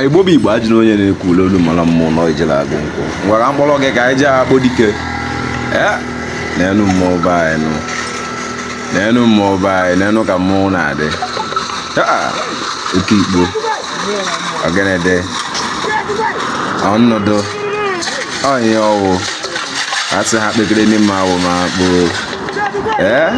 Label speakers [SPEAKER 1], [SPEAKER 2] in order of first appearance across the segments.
[SPEAKER 1] igbo bụ igbo ajụ na onye na-ekwu ule olu mara mmụọ nọ ijele agụ nkwụ ngwa ka m kpọrọ gị ka anyị jee akpọ dike neenụ mmụọ be anyị nụ neenụ mmụọ be anyị neenụ ka mmụọ na-adị oke igbo ọgịnịdị ọnọdụ onye ọwụ asị ha kpekere n'ime awụ ma kpoo ee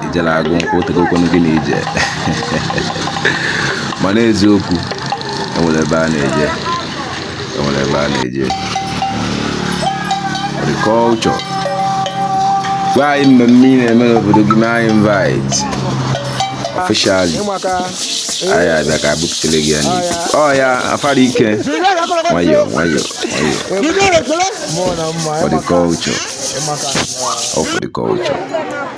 [SPEAKER 1] ijele agụ nkwụ tegokwanụ gị na ije mana eziokwu enwere ebe a na-eje enwere ebe a na-eje agriculture gwa anyị mmemme ị na-eme n'obodo gị mee anyị invite officially anyị abịa ka e buputele gị ya n'ikuku ọ ya afara ike nwayọọ nwayọọ nwayọọ for the culture all for the culture